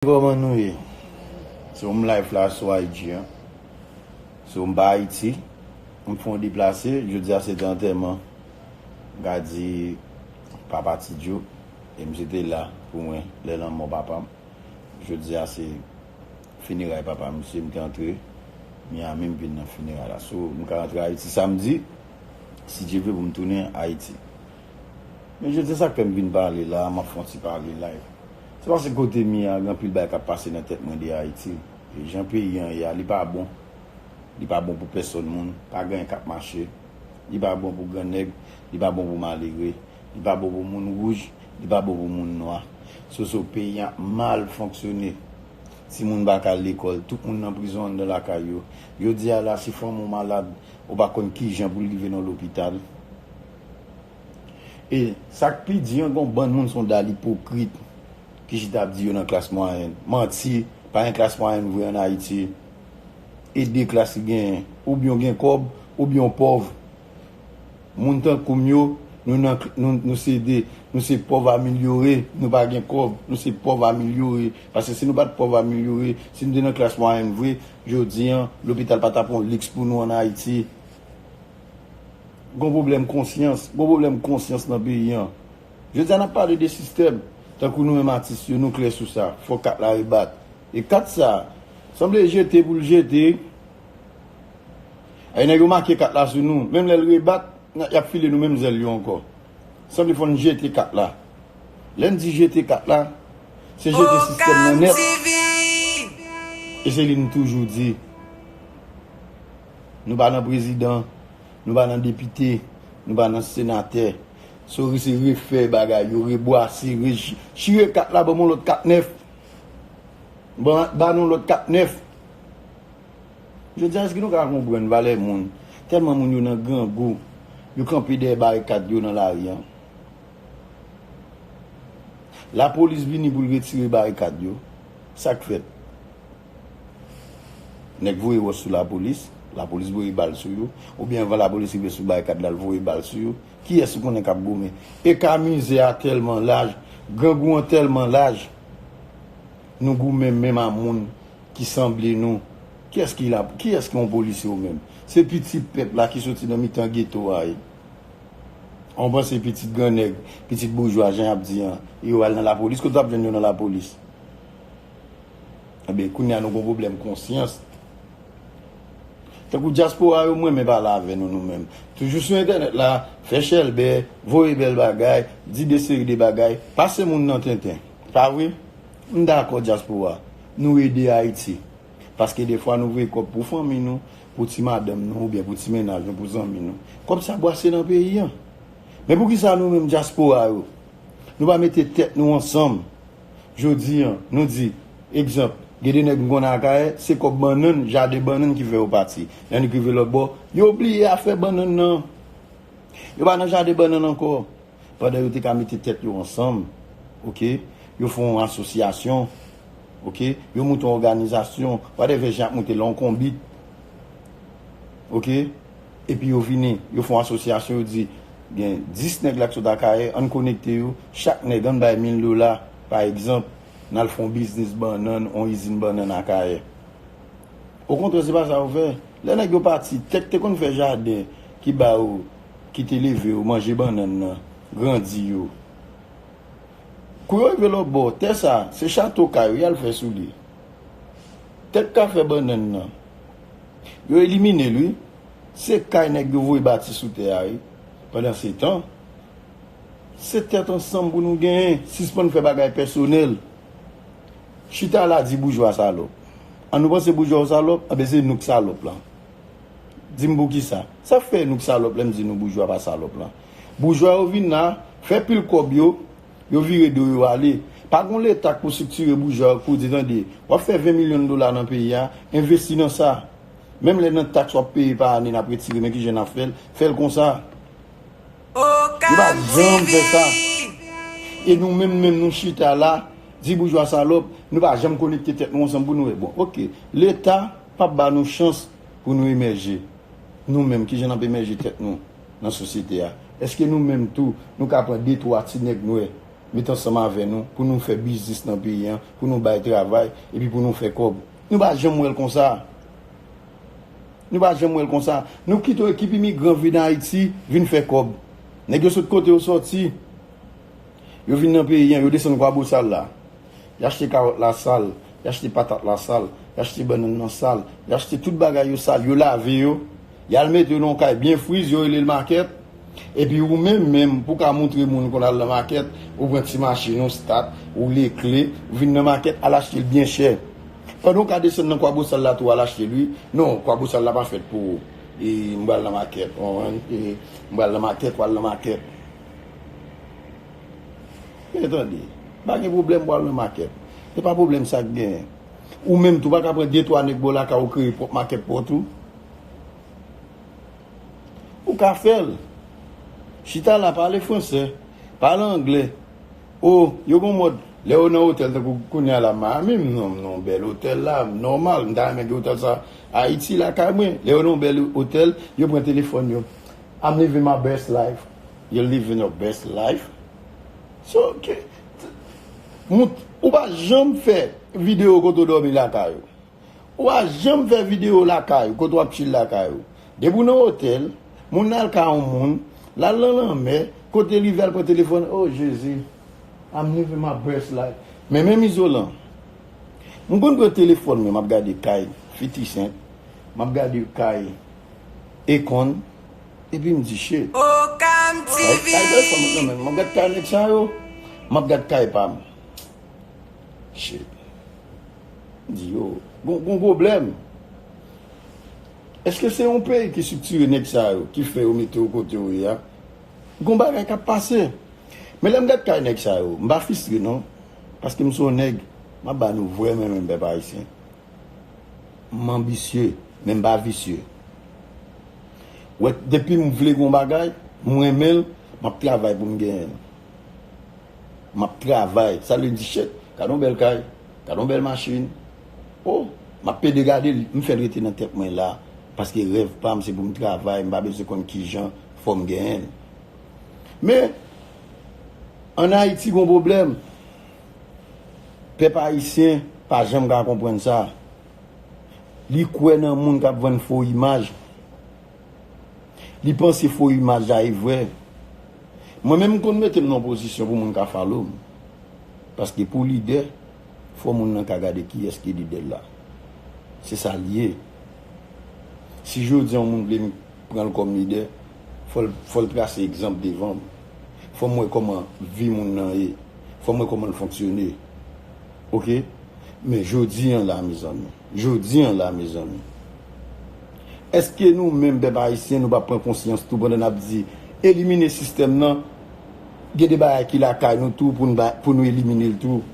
Koman nou ye? Se yon m live la sou IG an. Se yon m pa Ayiti. M fè yon deplase. Jodi a se te antèman m ka di papa Ti Djo e misye te la pou mwen lè lanmò papa m. Jodi a se fineray papa misye. M te antre Miami m vin nan fineray la. So m ka rantre Ayiti samdi si Dye vle pou m tounen Ayiti. Men jodi a sa k fè m vin pale la a m ap fè yon ti pale live. Se pase kote m ye a gen anpil bagay kap pase nan tèt mwen de Ayiti e jan peyi an ye a li pa bon li pa bon pou pèsòn moun pa gen anyen kap mache li pa bon pou grannèg li pa bon pou malere li pa bon pou moun wouj li pa bon pou moun nwa soso peyi an ap mal fonksyone timoun pa ka al lekòl tout moun nan prizon anndan lakay yo jodi a la si fanm ou malad ou pa konn kijan pou l rive nan lopital. E sak pi di an gon bann moun son dal ipokrit ki chita ap di yo nan klas mwayèn. Manti, pa gen klas mwayèn vre an Ayiti. E de klas ki genyen, oubyen w gen kòb, oubyen w pòv. Moun tankou m yo, nou nan nou se de, nou se pòv amilyore, nou pa gen kòb, nou se pòv amilyore. Paske si nou pat pòv amilyore, si nou te nan klas mwayèn vre, jodi an, lopital pa tap yon liks pou nou an Ayiti. Gon pwoblèm konsyans, gon pwoblèm konsyans nan peyi an. Jodi a n ap pale de sistèm, tankou nou menm atis yo nou klè sou sa, fò kat la rebat. E kat sa, sanble jete pou l jete, e nèg yo make kat la sou nou, menm lè l rebat, y ap file nou menm zèl yo ankò. Sanble fò n jete kat la. Lè n di jete kat la, se jete sistèm nan nèt. E se li n toujou di. Nou pa nan prezidan, nou pa nan depite, nou pa nan senatè. Sorry se refè bagay yo, rebwase, re chire kat la banm yon lòt kat nèf. Ba nou yon lòt kat nèf. Jodi a èske nou ka konprann valè moun? Tèlman moun yo nan grangou, yo kanpe dèyè barikad yo nan lari an. Lapolis vini pou l retire barikad yo. Sa k fèt? Nèg voye wòch sou lapolis, lapolis voye bal sou yo, oubyen anvan lapolis rive sou barikad la l voye bal sou yo, kiyès ou konnen k ap goumen? Eka mize a tèlman laj, grangou an tèlman laj, nou goumen menm a moun ki sanble nou. Kiyès ki la, kiyès ki yon polisye ou menm? Se pitit pèp la ki soti nan mitan geto a ye. An w panse pitit gran nèg, pitit boujwa jan y ap di an, yo al nan lapolis? Kote w t ap jwenn yo nan lapolis? Ebyen kounya nou gon pwoblèm konsyans. Tankou dyaspora yo m renmen pale avè nou nou menm. Toujou sou entènèt la, fè chèlbè, voye bèl bagay, di de seri de bagay, pase moun nan tenten. Pa vre? M dakò dyaspora, nou ede Ayiti. Paske defwa nou voye kòb pou fanmi nou, pou ti madanm nou oubyen pou ti mennaj nou, pou zanmi nou. Kòb sa bwase nan peyi an. Men poukisa nou menm dyaspora yo, nou pa mete tèt nou ansanm Jodi an, nou di, egzanp, gen de nèg m konnen Akayè, se kòb bannann, jaden bannann ki fè yo pati. Lè n rive lòtbò, yo bliye afè bannann nan. Yo pa nan jaden bannann ankò. Pandan yo te ka mete tèt yo ansanm, oke, yo fè yon asosyasyon, oke, yo monte yon òganizasyon, wadèvè jan y ap monte l la, yon konbit, oke. Epi yo vini, yo fon asosyasyon, yo di, gen 10 nèg la ki sot Akayè, ann konekte yo, chak nèg ann bay 1000 dola, pa egzanp, n al fon biznis bannann, on izin bannann Akayè. Okontrè, se pa sa yo fè. Lè nèg yo pati, tè k te konn fè jaden, ki ba yo, ki te leve yo, manje bannann nan, grandi yo. Kou yo rive lòt bò, tè sa, se chato kay yo, y al fè sou li. Tè k ka fè bannann nan. Yo elimine l wi. Se kay nèg yo voye bati sou tè a wi. Pandansetan, se tèt ansanm pou nou genyen. Sispann fè bagay pèsonèl. Chita la di boujwa salòp. An nou panse boujwa yo salòp? Anben se nou k salòp lan. Di m poukisa? Sa k fè nou k salòp lè m di nou boujwa pa salòp lan? Boujwa yo vin la, fè pil kòb yo. Yo vire do yo ale. Pa gon leta k pou siktire boujwa yo k pou di tande, w ap fè 20 milyon dola nan peyi a, envesti nan sa. Menm lè nan taks w ap peye pa ane n ap retire men ki jan n ap fè l, fè l konsa. Yo pa janm fè sa. E nou menm menm nou chita la, di boujwa salòp, nou pa janm konekte tèt nou ansanm pou nou wè bon ok, leta p ap ba nou chans pou nou emèje. Nou menm ki jan n ap emèje tèt nou? nan sosyete a? Èske nou menm tou, nou ka pran de twa ti nèg nwè met ansanm avè nou pou nou fè biznis nan peyi an, pou nou bay travay epi pou nou fè kòb? Nou pa janm wè l konsa. Nou pa janm wè l konsa. Nou kite yon ekip imigran vin Ayiti, vin fè kòb. Nèg yo sot kote yo sòti. Yo vin nan peyi an, yo desann Kwabosal la. Y achte kawòt la sal, y achte patat la sal, y achte bannann nan sal, y achte tout bagay yo sal, yo lave yo. Yal mete w nan kay byen friz yo rele l makèt epi ou menm menm pou ka moutre moun ou konn al nan makèt ou pran ti machin ou stat ou lekle ou vin nan makèt al achte l byen chè pandan w ka desann nan kwabosal la tou al achte l wi non kwabosal la pa fèt pou m pral nan makèt ou konprann m pral nan makèt pral nan makèt men tande m pa gen pwoblèm pou al nan makèt se pa pwoblèm sa k gen ou menm tou pa ka pran de twa nèg ba w lakay ou kreye pwòp makèt pa w tou. Ou ka fèl. Chita la pale fransè, pale anglè. O, yo gon mòd, lè yo nan otèl tankou kounye a la Miami, m nan yon bèl otèl la, nòmal, m ta renmen gen otèl sa Ayiti lakay mwen. Lè yo nan yon bèl otèl, yo pran telefòn yo. I'm living my best life. You're living your best life? So, ki, moun, ou pa janm fè videyo kote w dòmi lakay ou. Ou pa janm fè video lakay ou kote wap chill lakay ou. Depi ou nan otèl, moun nan al kay on moun, lal nan lanmè, kote li vle al pran telefòn oh jezi I'm living my best life. Men menm izolan. M konn pran telefòn mwen map gade kay fiti sent, map gade kay Akon epi m di shit. Kay kay bèl fanm nan menm map gad kay nèg sa yo, map gad kay pam. Shit. Di yo gon pwoblèm. Eske se yon peyi ki siktire nèg sa yo ki fè yo mete w kote w ye a? Gon bagay k ap pase. Men lè m gad kay nèg sa yo, m pa fistre non. Paske m se yon nèg, m ap ba nou vrè mwen menm pèp ayisyen. M anbisye, men m pa visye. Wè, depi m vle yon bagay, m renmen l, m ap travay pou m genyen l. M ap travay. Sa vle di chèk. Gad yon bèl kay. Gadon bèl machin oh map pede gadel m fèl rete nan tèt mwen la paske rèv pam se poum travay m pa bezwen konn kijan fòm genyenl men an ayiti gon problèm pèp ayisyen pa janm ka konprann sa li kwè nan moun kap vann fo imaj. Li panse fo imaj la e vrè. Mwen menm m konn mete m nan yon pozisyon pou moun ka follow m. Paske pou lidè, fò moun nan ka gade kiyès ki lidè l la. Se sa l ye. Si jodi yon moun vle m pran l kòm lidè, fò l fò l trase egzanp devan m. Fò m wè kòman vi moun nan ye. Fò m wè kòman l fonksyone. Ok? Men jodi an la mezanmi. Jodi an la mezanmi. Eske nou menm pèp ayisyen nou pa pran konsyans tou pandan nap di elimine sistèm nan gen de bagay ki lakay nou tou pou nou eliminel tou.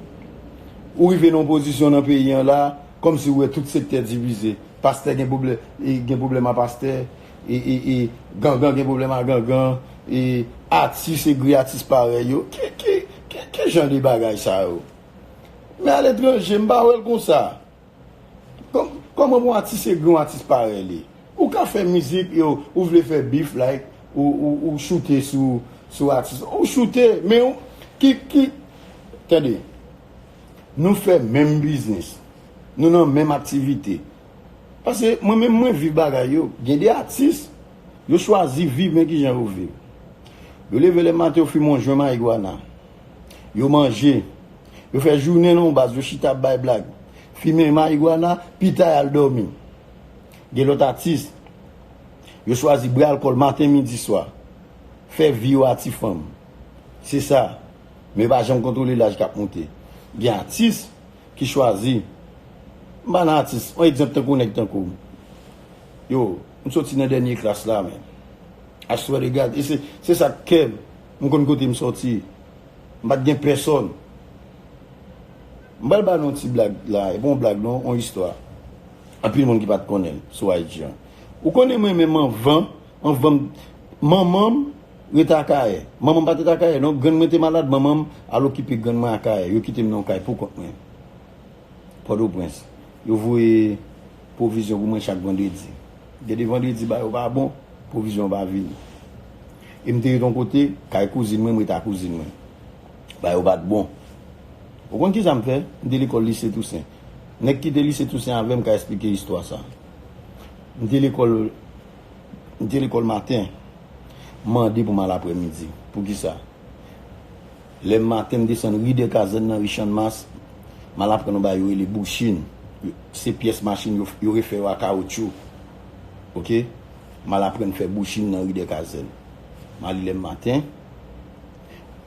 Ou rive nan yon pozisyon nan peyi an la kòm si ou wè tout sektè divize. Pastè gen pwoblèm a pastè e gangan gen pwoblèm a gangan e atis egri atis parèy yo. Ki jan de bagay sa yo? Men a letranje m pa wè l konsa. Kòman pou yon atis egri yon atis parèy li? Ou ka fè mizik e ou vle fè bif like ou choute sou atis la. Ou choute men ki tande nou fè menm biznis, nou nan menm aktivite. Pase mwen menm mwen viv bagay yo. Gen de atis yo chwazi viv men kijan yo viv. Yo leve le maten yo fimen yon jwen mayigwana. Yo manje. Yo fè jounen nan yon baz, yo chita ap bay blag, fimen mayigwana, pita y al dòmi. Gen lòt atis, yo chwazi bwè alkòl maten, midi, swa. Fè vi yo a ti fanm. Se sa. Men yo pa janm kontwole laj k ap monte. Gen atis ki chwazi, m pa nan atis, yon egzanp tankou nèg tankou m. Yo, m soti nan dènye klas la men. Aswèlè gad, e se sa k kè m. M konn kote m sòti. M pa t gen pèsòn. M pral ba nou yon ti blag la. E pa yon blag non, yon istwa. Anpil moun ki pa t konnen l sou IG an. Ou konnen mwen menm anvan, anvan m Manman m rete Akayè. Manman m pa t rete Akayè non. Grann mwen te malad, manman m al okipe grann mwen Akayè. Yo kite m nan yon kay poukont mwen. Pòtoprens, Yo voye pwovizyon pou mwen chak vandredi. Gen de vandredi ba yo pa bon, pwovizyon an pa vini. E m te ret yon kote, kay kouzin mwen, m ret a kouzin mwen. Ba yo pa t bon. Ou konn ki sa m fè? M te lekòl Lise Tousen. Nèg ki te Lise Tousen avè m ka esplike istwa sa a. M te lekòl, m te lekòl maten, m mande pou m al aprèmidi. Pou ki sa? Lè maten m desann ri Dèkazèn nan ri Channmas, m al aprann yon bagay yo rele bouchin. Se pyès machin yo yo refè yo a kawotchou. Ok. M al aprann fè bouchin nan ri Dèkazèn. M ale lè maten,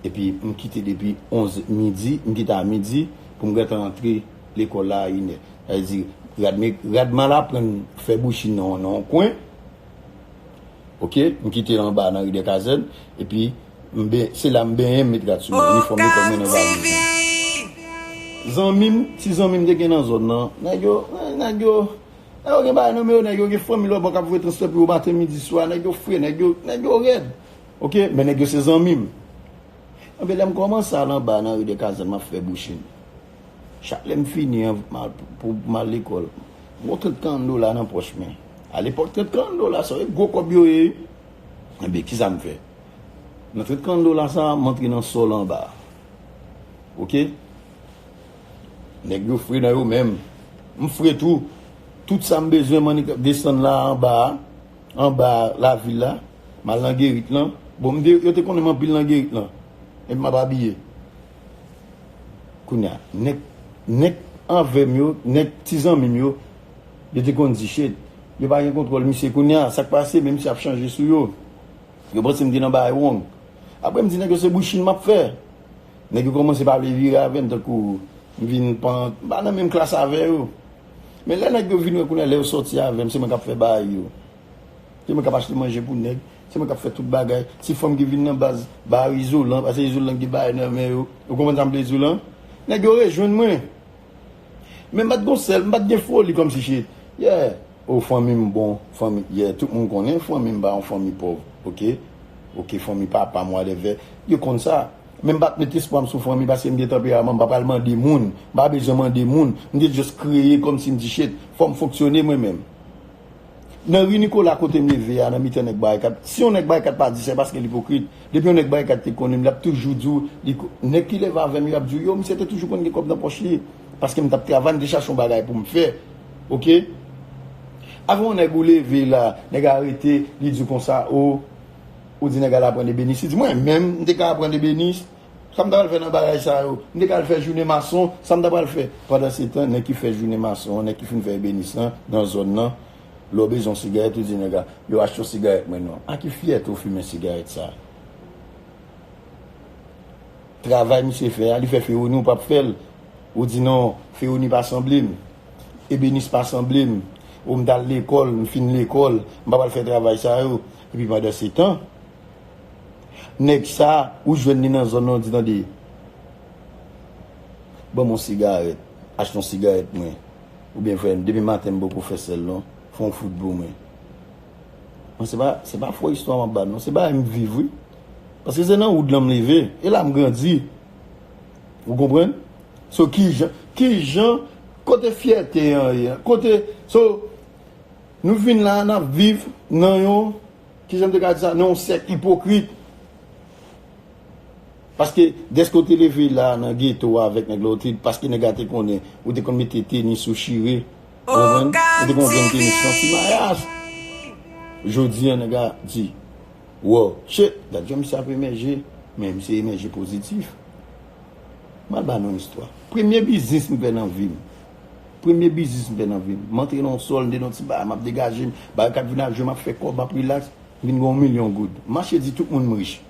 epi m kite depi onz midi, m kite a midi pou m gentan antre lekòl la a inè. Sa vle di rad m rad m al aprann fè bouchin nan nan yon kwen. Ok m kite anba nan ridè kazèn epi se la m benyen m met rad sou mwen inifòm lekòl mwen nan valiz zanmim ti zanmim te gen nan zòn nan nèg yo nèg yo nèg yo gen bagay nan men yo nèg yo gen fanmi lòtbò k ap voye transfè pou yo maten midi swa nèg yo fre nèg yo nèg yo rèd ok men nèg yo se zanmim anben lè m kòmanse al anba nan ridè kazèn m ap fè bouchim. Chak lè m fini an pou m al lekòl, m wè yon 30 karan dola nan pòch mwen. Alepòk 30 karan dola sa yo e gwo kòb yo ye wi. Enben ki sa m fè? Nan 30 karan dola sa a, m antre nan sòl anba a. Oke? Nèg yo fre nan yo menm. M fre tou. Tout sa m bezwen m annik ap desann la anba a. Anba a lavil la. M al nan gerit lan. Bon m te yo te konnen m anpil nan gerit lan. Epi m ap abiye. Kounya nèg nèg anvèm yo nèg ti zanmim yo yo te konn di Shade yo pa gen kontwòl misye kounya sak pase men misye ap chanje sou yo yo pansem te nan bagay wrong aprem di nèg yo se bouchin map fè nèg yo kòmanse pa vle vire avèm tankou mvin pan mpa nan menm klas avè yo men lè nèg yo vin wè kounya lè yo sòti avèm se mwen kap fè baay yo. Se mwen kap achte manje pou nèg, se mwen kap fè tout bagay. Se fanm ki vin nan baz ba yo izolan, pase izolan ki gen bagay nan men yo. Ou konprann sa m vle di w lan? Nèg yo rejwenn mwen. Men m pa t gon sèl, m pa t gen foli kòmsi se, yeah, oh fanmi m bon, fanmi, yeah, tout moun konnen fanmi m pa yon fanmi pòv, ok, ok, fanmi papa m whatever, yo konn sa. Men m pa t met espwa m sou fanmi paske m gen tanperaman, m pa pral mande moun, m pa bezwen mande moun. M te just kreye kòmsi m di shit, fò m fonksyone mwen menm. Nan ri Nikola kote m leve a nan mitan nèg barikat, si yon nèg barikat pa di se paske l ipokrit. Depi yon nèg barikat te konnen m l ap toujou di w li ko. Nèg ki leve avè m yo ap di w yo misye te toujou konn gen kòb nan pòch li paske m t ap travay m te chache yon bagay pou m fè ok. Avè yon nèg ou leve la nèg a rete li di w konsa o ou di nèg al aprann ebenis li di mwen menm m te ka aprann ebenis Sa m ta pral fè nan bagay sa yo? M te ka al fè jounen mason, sa m ta pral fè? Pandansetan, nèg ki fè jounen mason an, nèg ki fin fè ebenis lan, nan zòn nan, lè w bezwen yon sigarèt, ou di nèg la, yo achte yon sigarèt mwen non. Ak ki fyète ou fimen sigarèt sa a? Travay misye fè a, li fè Féronie ou p ap fè l? Ou di non, Féronie pa sanble m. Ebenis pa sanble m. O m t al lekòl, m fin lekòl, m pa pral fè travay sa yo. Epi pandansetan. Nèg sa ou jwenn li nan zòn nan ou di tande ban m yon sigarèt, achte yon sigarèt mwen oubyen frè m depi maten m poko fè sèl non fè yon fout pou mwen. Mwen se pa se pa fo istwa m ap ba nou non se bagay m viv wi paske se nan woud lan m leve e la m grandi ou konprann so kijan kijan kote fyète an ye kote so nou vin la n ap viv nan yon Kijan m te ka di sa? Nan yon sèk ipokrit. Paske dèske ou te leve la nan geto a avèk nèg la, ou te, paske nèg la te konnen, ou te konn mete tenis ou chire. Ou konprann? Ou te konn jwenn tenis nan ti mayas. Jodi an nèg la di, Wow! Che! Gad jan misye ap emèje. Men misye emèje pozitif. M al ba nou yon istwa. Premye biznis m fè nan vi m. Premye biznis m fè nan vi m. M antre nan yon sòl, m te nan yon ti bagay, m ap degaje m. Bagay kap vin ak jwe, m ap fè kòb, m ap rilaks. M vin gen yon milyon goud. M mache di tout moun m rich.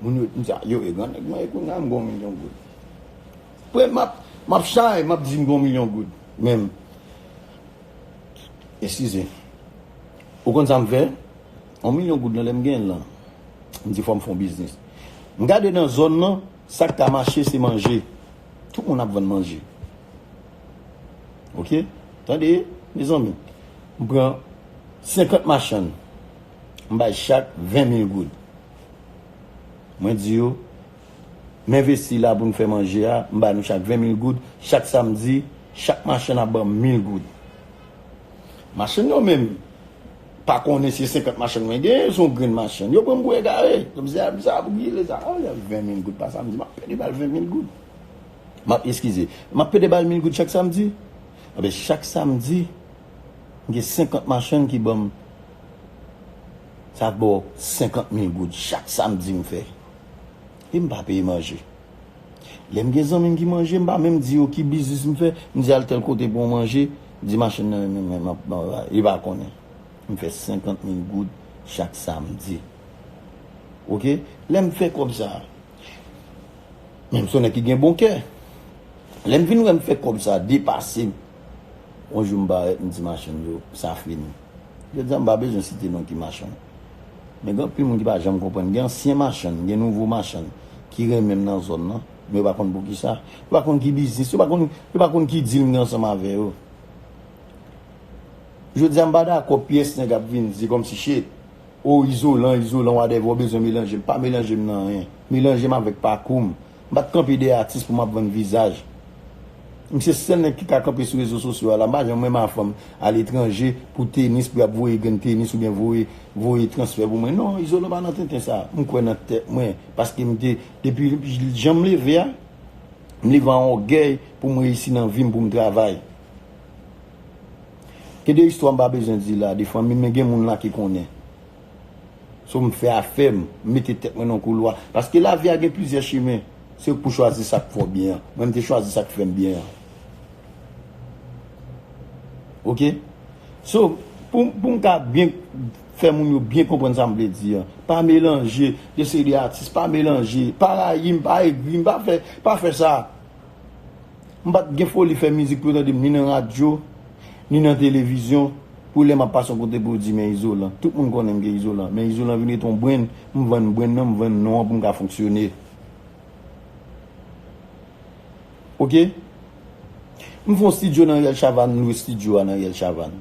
Moun yo di m sa, yo e grannèg mwen e kounya m gen yon milyon goud. Pre m ap, m ap chay, m ap di m gen yon milyon goud. Men, eskize. Ou konn sa m fè? Yon milyon goud lan lè m gen l lan, m di fò m fè yon biznis. M gade nan zòn lan. Sak ka mache se manje. Tout moun ap vann manje. Ok tande mezanmi m pran 50 machann m bay chak 20 mil goud. Mwen di yo m envesti la pou n fè manje a m bay nou chak 20 mil goud chak samdi chak machann ap banm mil goud. Machann yo menm pa konnen se 50 machann mwen genyen, son grenn machann. Yo pran m pou egare. Yo m di, a, sa a pou ki lesa? A, se 20 mil goud pa samdi. M ap pede ba l 20 mil goud. M ap, eskize, m ap pede ba l mil goud chak samdi. Enben, chak samdi, m gen 50 machann ki ban m, sa fè 50 mil goud chak samdi m fè. E m pa peye manje. Lè m gen zanmi m ki manje, m pa menm di yo ki biznis m fè. M di al tèl kote pou on manje, di machann nan renmen men map ban yo la. Li pa konnen. M fè 50 mil goud chak samdi. Ok? Lè m fè kòb sa a, men m son nèg ki gen bon kè. Lè m vin wè m fè kòb sa a depase m, on jou m parèt m di machann yo sa fini. Jodi a m pa bezwen site non ki machann. Men gen anpil moun ki pa janm konprann. Gen ansyen machann, gen nouvo machann ki renmen m nan zòn nan. Men yo pa konn poukisa. Yo pa konn ki biznis. Yo pa konn, yo pa konn ki dil m gen ansanm avè yo. Jodi a m pa dakò pyès nèg ap vin se kòmsi se o izolan, izolan wadèvè ou bezwen melanje m. Pa melanje m nan anyen. Melanje m avèk pakou m. M pa t kanpe dèyè atis pou m ap vann vizaj. M se sèl nèg ki ka kanpe sou rezo sosyo a la. M pa janm renmen afanm aletranje pou tenis, pou y ap voye grenn tenis oubyen voye voye transfè pou mwen. Non, Izolan pa nan tenten sa. M kwè nan tèt mwen paske m te depi jan m leve a, m leve an ògèy pou m reyisi nan vi m, pou m travay. Gen de istwa m pa bezwen di la de fanmi m men gen moun la ki konnen. So m fè afè m, m mete tèt mwen nan yon koulwa. Paske lavi a gen plizyè chimen. Se ou k pou chwazi sa k fè w byen an. Mwen m te chwazi sa k fè m byen an. Ok? So, pou m ka byen fè moun yo byen konprann sa m vle di an. Pa melanje yon seri de atis. Pa melanje. Pa rayi m. Pa egri m. Pa fè sa. M pa t gen foli fè mizik pou yo tande m ni nan radyo, ni nan televizyon, pou lè m ap pase yon kote pou yo di men Izolan. Tout moun konnen m gen Izolan, men Izolan vin rete yon brenn, m vann brenn nan, m vann non an pou m ka fonksyone. Ok. M fè yon stidyo nan Riyèl Chavann, m lwe stidyo a nan Riyèl Chavann.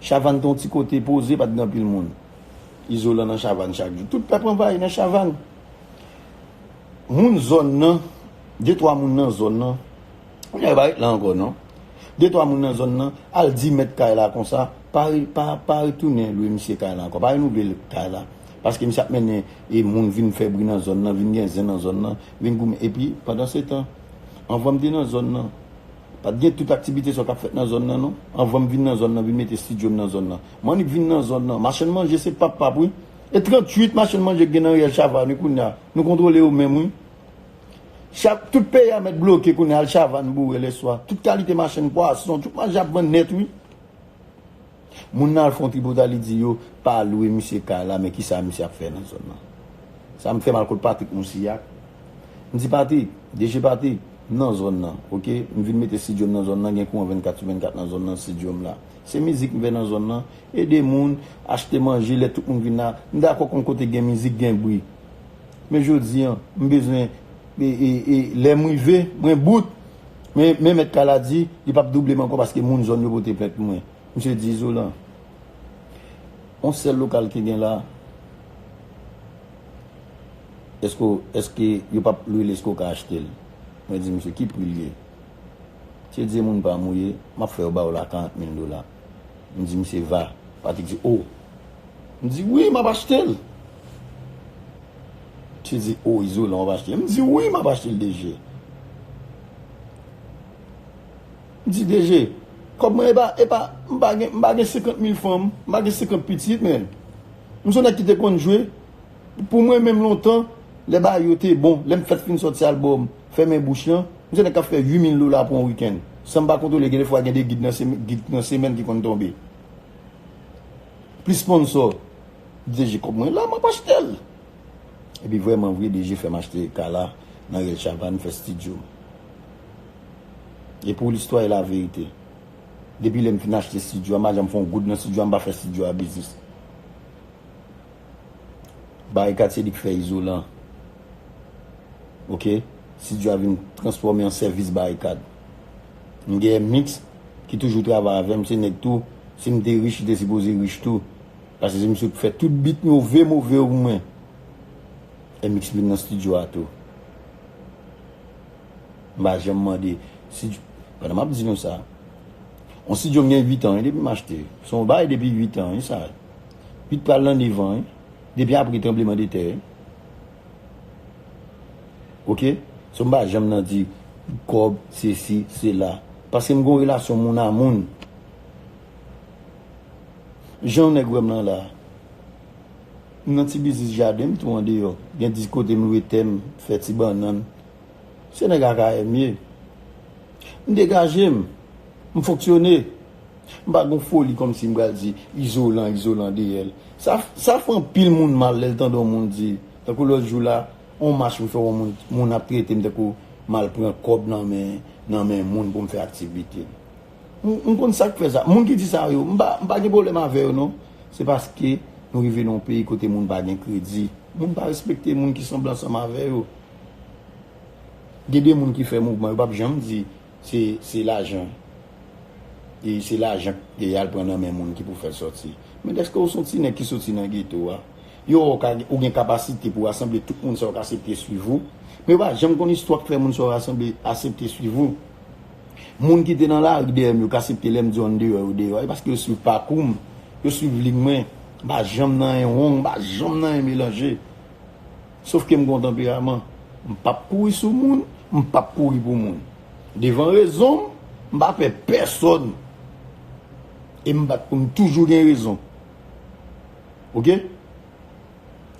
Chavann te yon ti kote poze, pa t gen anpil moun. Izolan nan Chavann chak jou. Tout pèp anvayi nan Chavann. Moun zòn nan, de twa moun nan zòn nan, kounye a yo pa ret la ankò non, de twa moun nan zòn nan al di mèt kay la konsa, pa retounen lwe misye kay la ankò, pa renouvle l kay la, paske misye ap mennen moun vin fè bri nan zòn nan, vin gen zen nan zòn nan, vin goumen. Epi, pandansetan, anvan m te nan zòn nan, pa t gen tout aktivite sa yo k ap fèt nan zòn nan non, anvan m vin nan zòn nan, vin mete stidyo m nan zòn nan, m annik vin nan zòn nan, machann manje se pap pap wi, e 38 machann manje gen nan Riyèl Chavàn wi kounye a. Nou kontrole yo menm wi. Chak tout peyi a mèt bloke kounye al chavanne boure lèswa tout kalite machann pwason tout manje ap vann nèt wi. Moun nan al fon tripotay li di yo pa lwe misye kay la men kisa misye ap fè nan zòn nan. Sa m fè m al kot Patrick Mousillak m di Patrick DG Patrick m nan zòn nan ok m vin mete studio m nan zòn nan gen kouran 24 sou 24 nan zòn nan studio m la se mizik m fè nan zòn nan Ede moun, achte manje lè tout moun vin la. M dakò konn kote gen mizik gen bri. Men jodi an, m bezwen lè m rive, mwen bout. Men men mèt kay la di, li pap double m ankò paske moun zòn yo pote plent pou mwen. Misye di izolan. On sèl lokal ki gen la. Eske w, eske yo pap lwe l eske w ka achte l? Mwen di misye ki pri l ye? Misye di e moun pa m ou ye, m ap fè yo ba w la 40 mil dola. M di misye va. Patrick di oh. M di wi m ap achte l. Misye di oh izolan w ap achte l. M di wi m ap achte l DG. M di DG kòb mwen e pa m pa gen m pa gen 50 mil fanm m pa gen 50 pitit menn. M son nèg ki te konn jwe pou mwen menm lontan lè bagay yo te bon lè m fèt fin sòti albòm. Fèmen bouch lan. M se nèg kap fè 8000 dola pou yon weekend. Sanm pa kontwole gen de fwa gen 2 gid nan semèn ki konn tonbe. Plis sponsò. DG kòb mwen la map achtel. Epi vrèman vre DG fèm achte kala nan rèl chavann fè stidyo. E pou listwa e la verite. Depi lèm fin achte stidyo a m pa janm fè yon goud nan stidyo a m pa fè stidyo a biznis. Bay katye lik fè izolan. Ok studio a vin transfòme an sèvis barikad M gen mix ki toujou travay avèm se nèg tou sim te rich li te sipoze rich tou pase se misye ki fè tout beat move move yo pou mwen MX vin nan studio a tou m pa janm mande studio pandan map di nou sa yon studio m gen 8 an wi depi m achte son baay depi 8 an wi sa 8 pral nan 9 an wi depi apre tranbleman de tè wi. Ok so mpa janm nan di kob sesi sela paske mgon relasyon moun a moun jan yon nèg wèm lan la mnan ti biznis jaden mtou andeyò gen di kote mlwe tè mfè ti bannann se nèg akayè mye mdegajem mfonksyone. M pa gon foli kòmsi m pral di Izolan, Izolan deyè l. Sa fè anpil moun mal lè l tande yon moun di, tankou lòt jou la, yon mach m fè wè yon moun, moun ap trete m tankou m al pran kòb nan men moun pou m fè aktivite. M konn sa k fè sa. Moun ki di sa yo, m pa gen pwoblèm avè yo non. Se paske nou rive nan yon peyi kote moun pa gen kredi. Moun pa respekte moun ki sanble ansanm avè yo. Gen de moun ki fè mouvman yo pa p janm di Se se lajan e se lajan k yal pran nan men moun ki pou fèl sòti. Men dèske ou son ti nèg ki soti nan geto a, yo wè w ka ou gen kapasite pou rasanble tout moun sa yo k asepte swiv ou. Men yo pa janm konn istwa k fè moun sa yo rasanble asepte swiv ou. Moun ki te nan lari dèyè m yo k asepte lè m di w an deyò yo deyò. E paske yo swiv pakou m, yo swiv liy mwen. M pa janm nan anyen wong, m pa janm nan anyen melanje. Sof ke m gon tanperaman. M pap kouri sou moun, m pap kouri pou moun. Devan rezon m, m pa pè pèsòn. E m bat pou m toujou gen rezon. Ok?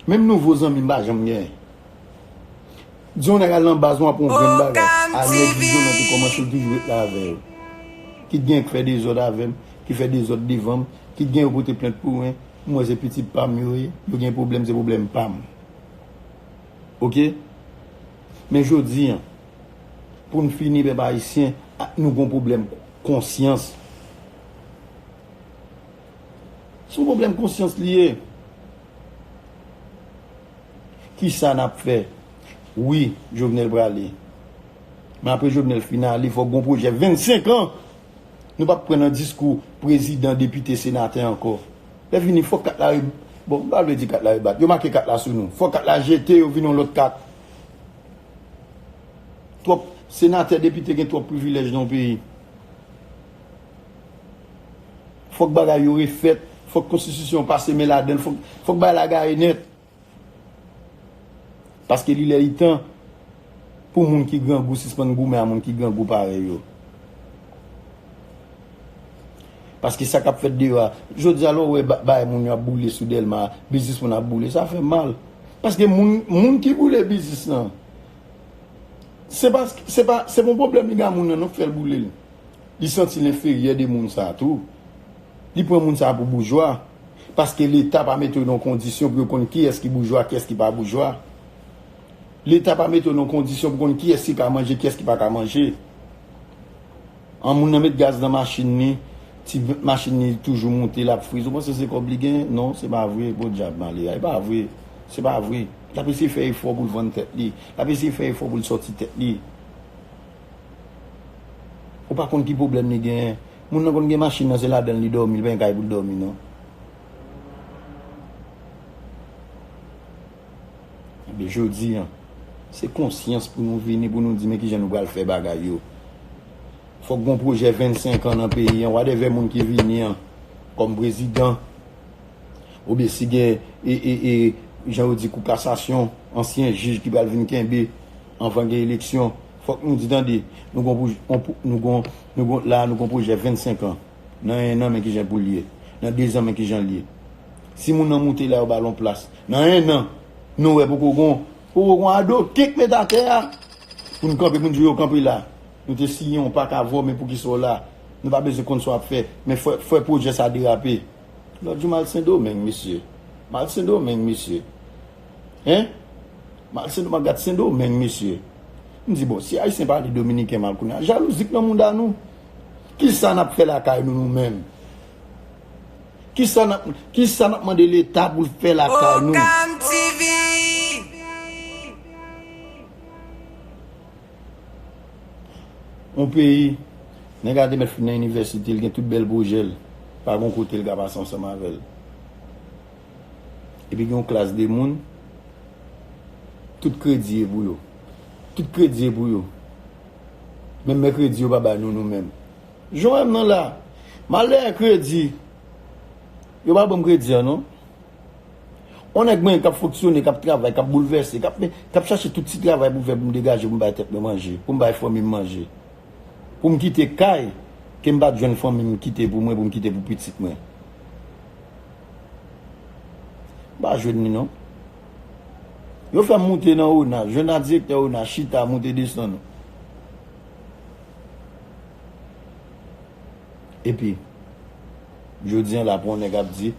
Menm nouvo zanmi m pa janm gen. Di yon nèg al nan baz ou aprann yon grenn bagay. A nèg Izo nan te kòmanse l toujou ret la avè yo. Kit gen k fè dezòd avè m, ki fè dezòd devan m, kit gen yo pote plent pou mwen, M wè se pitit pam yo ye, yo gen pwoblèm se pwoblèm pam. Ok. Men jodi an, pou n fini pèp ayisyen, nou gon pwoblèm konsyans. Se yon pwoblèm konsyans li ye. Kisa n ap fè? Wi, Jovenel prale. Men apre Jovenel fin ale, fòk gon pwojè 25 an. Nou pap pran nan diskou prezidan, depite, senatè ankò. Lè fini fòk kat la re bon m pa vle di kat la rebat. Yo make kat la sou nou. Fòk kat la jete yo vin yon lòt kat. Twòp senatè, depite gen twòp privilèj nan yon peyi. Fòk bagay yo refèt, fòk konstitisyon pase men ladan l, fòk bagay la gaye nèt. Paske li lè li tan pou moun ki grangou sispann goumen a moun ki grangou parèy yo. Paske sa k ap fèt deyò a, jodi a lè w wè bagay moun yo ap boule sou Dèlma a, biznis moun ap boule, sa fè mal. Paske moun ki boule biznis lan, se pa se pa se pa yon pwoblèm li gen a moun nan non ki fè l boule l. Li santi l enferyè de moun sa a tou. Li pran moun sa a pou boujwa. Paske leta pa mete yo nan kondisyon pou yo konn kiyès ki boujwa, kiyès ki pa boujwa. Leta pa mete yo nan kondisyon pou konn kiyès ki ka manje, kiyès ki pa ka manje. An moun nan met gaz nan machin li, ti machin li toujou moute lap friz. Ou panse se kòb li genyen? Non, se pa vre. Podyab malè a. E pa vre. Se pa vre. Lap eseye fè efò pou l vann tèt li. Lap eseye fè efò pou l sòti tèt li. Ou pa konn ki pwoblèm li genyen. Moun nan konn gen machin nan se ladanl li domi li pa gen kay poul domi non. Ebyen jodi an se konsyans pou nou vini pou nou di men kijan nou pral fè bagay yo. Fòk gon pwojè 25 an nan peyi an wadèvè moun ki vini an kòm prezidan oubyen si gen ee jan yo di kou kasasyon ansyen jij ki pral vin kenbe anvan gen eleksyon. Fòk nou di tande, nou gon pou, on pou, nou gon, nou gon, la a nou gon pwojè 25 an. Nan 1 an men kijan pou l ye. Nan 2 zan men kijan l ye. Si moun nan moute la yo ba l on plas. Nan 1 an, nou wè poko gon, poko gon ado ke k met atè a pou n kanpe pou n di yo kanpe la. Nou te siyen on pak avè w men poukisa w la. Nou pa bezwen konn sa w ap fè. Men fè, fè pwojè sa derape. Lòt jou m al Sendomeng mesye. M al Sendomeng mesye. Hein? Mal sen doman gat sendomeng mesye. M di bon si ayisyen pale dominiken mal kounya jalouzi k nan mouda nou. Kisa nap fè lakay nou nou menm? Kisa nap kisa nap mande leta pou l fè lakay nou? Okam TV. On peyi nèg la te mèt fin nan inivèsite l gen tout bèl pwojè l pa gon kote l ka pase ansanm avè l. Epi gen yon klas de moun, tout kredi e pou yo. Tout kredi e pou yo. Menm mèkredi yo pa ba nou nou menm. Jan w wè m nan la, malè a kredi, yo pa ban m kredi an non. On nèg mwen k ap fonksyone, k ap travay, k ap boulvèse, k ap chache tout ti travay pou m fè pou m degaje pou m bay tèt mwen manje, pou m bay fanmi m manje. Pou m kite kay ke m pa t jwenn fanmi m kite pou mwen, pou m kite pou pitit mwen. M pa jwenn li non. Yo fè m moute nan ona. Jwenn ak direktè ona chita moute desann. Epi, jodi an la pou yon nèg ap di,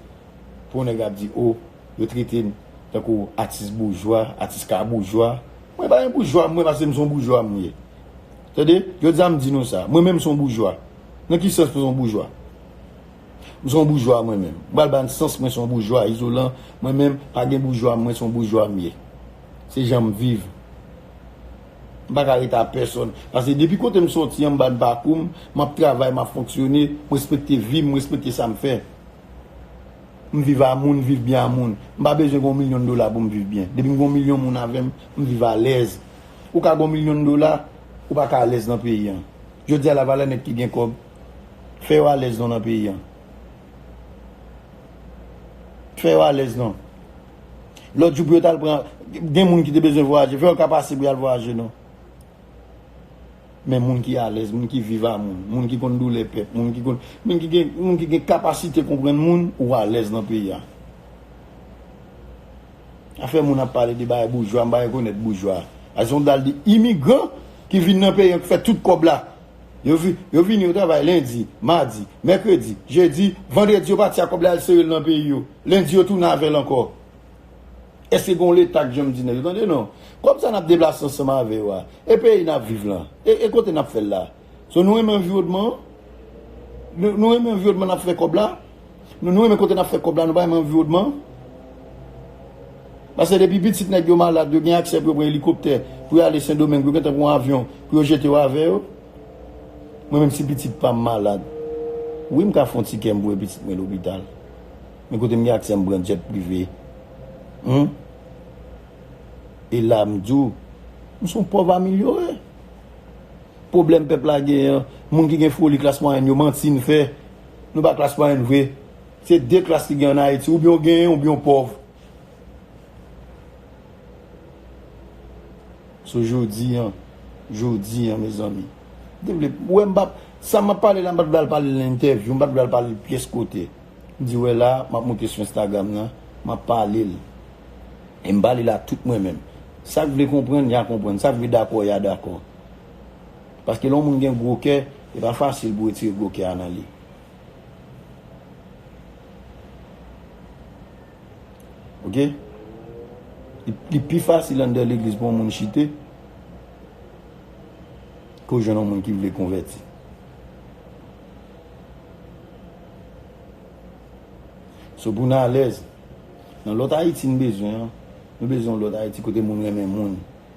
pou yon nèg ap di o, yo trete m tankou atis boujwa, atis ka boujwa. Mwen pa yon boujwa mwen pase m son boujwa mwen ye. Tande, jodi an m di nou sa. Mwen menm m son boujwa. Nan ki sans m son boujwa? M son boujwa mwen menm. M pral ba n sans mwen son boujwa izolan mwen menm pa gen boujwa mwen son boujwa m ye. Se jan m viv. M pa ka rete a pèsòn. Pase depi kote m soti an m ba n pakou m, m ap travay, m ap fonksyone, m respekte vi m, m respekte sa m fè. M viv a moun, m viv byen a moun. M pa bezwen gen yon milyon dola pou m viv byen. Depi m gen yon milyon moun avè m, m viv alèz. Ou ka gen yon milyon dola, ou pa ka alèz nan peyi an. Jodi a lavalè nèg ki gen kòb. Fè yo alèz non nan peyi an. Fè yo alèz non. Lòt jou pou yo tal pran, gen moun ki te bezwen vwayaje, fè yo ka pase pou yal vwayaje non. Men moun ki alèz, moun ki viv a moun, moun ki konn doulè pèp, moun ki konn, moun ki gen, moun ki gen kapasite konprann moun, ou alèz nan peyi an. Afè moun ap pale de bagay boujwa, m pa rekonèt boujwa. Ason dal di imigran ki vin nan peyi an, ki fè tout kòb la, Yo vini, yo travay lendi, madi, mèkredi, jedi, vandredi yo pati ak kòb la yal sere l nan peyi yo. Lendi yo tounen avè l ankò. Èske gen yon Leta k janm di nèg yo tande non, kòb sa n ap deplase ansanm avè yo a, e peyi n ap viv lan, e kote n ap fè l la? So nou renmen anviwònman an? Nou renmen anviwònman n ap fè kòb la? Nou nou renmen kote nap fè kòb la nou pa renmen anviwòdman an. Pase depi pitit nèg yo malad yo gen aksè pou yo pran elikoptè pou yo ale sendomeng yo gentan pran yon avyon pou yo jete yo avè yo. Mwen menm si pitit pam malad wi m ka fon ti kè m voye pitit mwen lopital men kote m gen aksè m pran jet prive humm e la m di w m son pòv amilyore. Pwoblèm pèp la gen an moun ki gen foli klas mwayèn yo manti n fè. Nou pa klas mwayèn vre. Se 2 klas ki gen an Ayiti. Oubyen w genyen oubyen w pòv. So jodi an, jodi an mezanmi. Wè m pap, sa m ap pale la m pa t vle al pale l nan entèvyou, m pa t vle al pale l pyès kote. M di wè la, m ap moute sou Instagram nan, m ap pale l. E m pale l a tout mwen menm. Sa k vle konprann, y a konprann. Sa k vle dakò, y a dakò. Paske lè yon moun gen gwo kè, e pa fasil pou retire gwo kè a nan li. Ok. Li pi fasil anndan legliz pou yon moun chite, ke w jwenn yon moun ki vle konvèti. So pou nou alèz, nan lòt Ayiti nou bezwen an, nou bezwen yon lòt Ayiti kote moun renmen moun,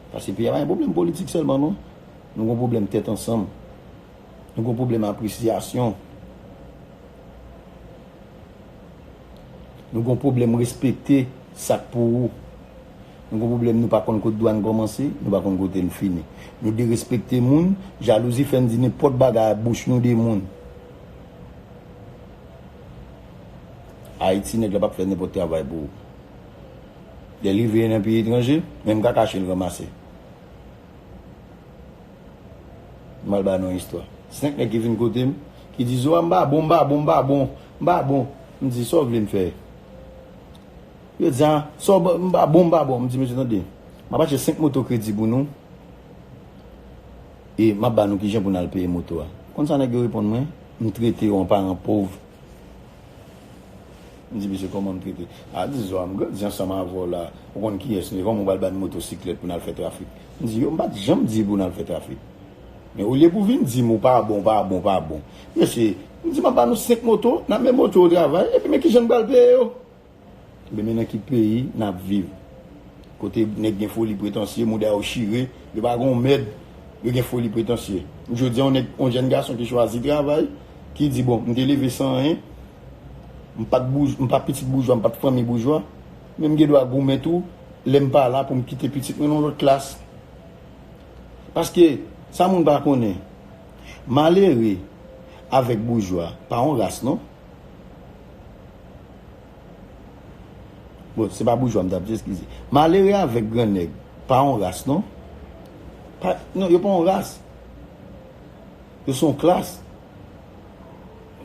Pase peyi a pa gen pwoblèm politik sèlman non. Nou gen pwoblèm tèt ansanm. Nou gen pwoblèm apresyasyon. Nou gen pwoblèm respekte sa k pou ou. Nou gen pwoblèm nou pa konn kote dwa n kòmanse, nou pa konn kote n fini. Nou derespekte moun, jalouzi fè n di nenpòt bagay ak bouch nou de moun. Ayiti nèg la p ap fè nenpòt travay pou ou. Lè li veye nan peyi etranje, menm kaka chen l ranmase. M al ba nou yon istwa. Senk nèg ki vin kote m, ki di, Zoya m pa bon, m pa bon, m pa bon, m pa bon. M di, sa w vle m fè? Yo di, an, sa w ban, m pa bon, m pa bon. M di, mesye tande, m ap achte senk moto kredi pou nou e m ap ba nou ki jan pou n al peye moto a. Konn sa nèg yo reponn mwen? M trete w an paran pov. M di misye kòman m trete. A di zwa m grandi ansanm avè w la, ou konn kiyès m ye, kòman ou pral ban n motosiklèt pou n al fè trafik? M di yo m pa t janm di pou n al fè trafik. Men olye pou vin di m ou pa bon, pa bon, pa bon. Mesye, m di m ap ba nou 5 moto, n ap met moto yo travay, epi men kijan n pral peye yo? Ebyen men nan ki peyi nap viv kote nèg gen foli pretansye mouda yo chire yo pa gon mèd yo gen foli pretansye jodi yon nèg yon jèn gason ki chwazi travay ki di bon m te leve san anyen m pat boujwa m pat pitit boujwa m pat fanmi boujwa men m gen dwa goumen tou lèm pa la pou m kite pitit mwen nan yon lòt klas paske sa moun pa konnen malere avèk boujwa pa yon ras non. Bon se pa boujwa m tap di eskize. Malere avèk gran nèg pa yon ras non. Pa non yo pa yon ras. Yo se yon klas.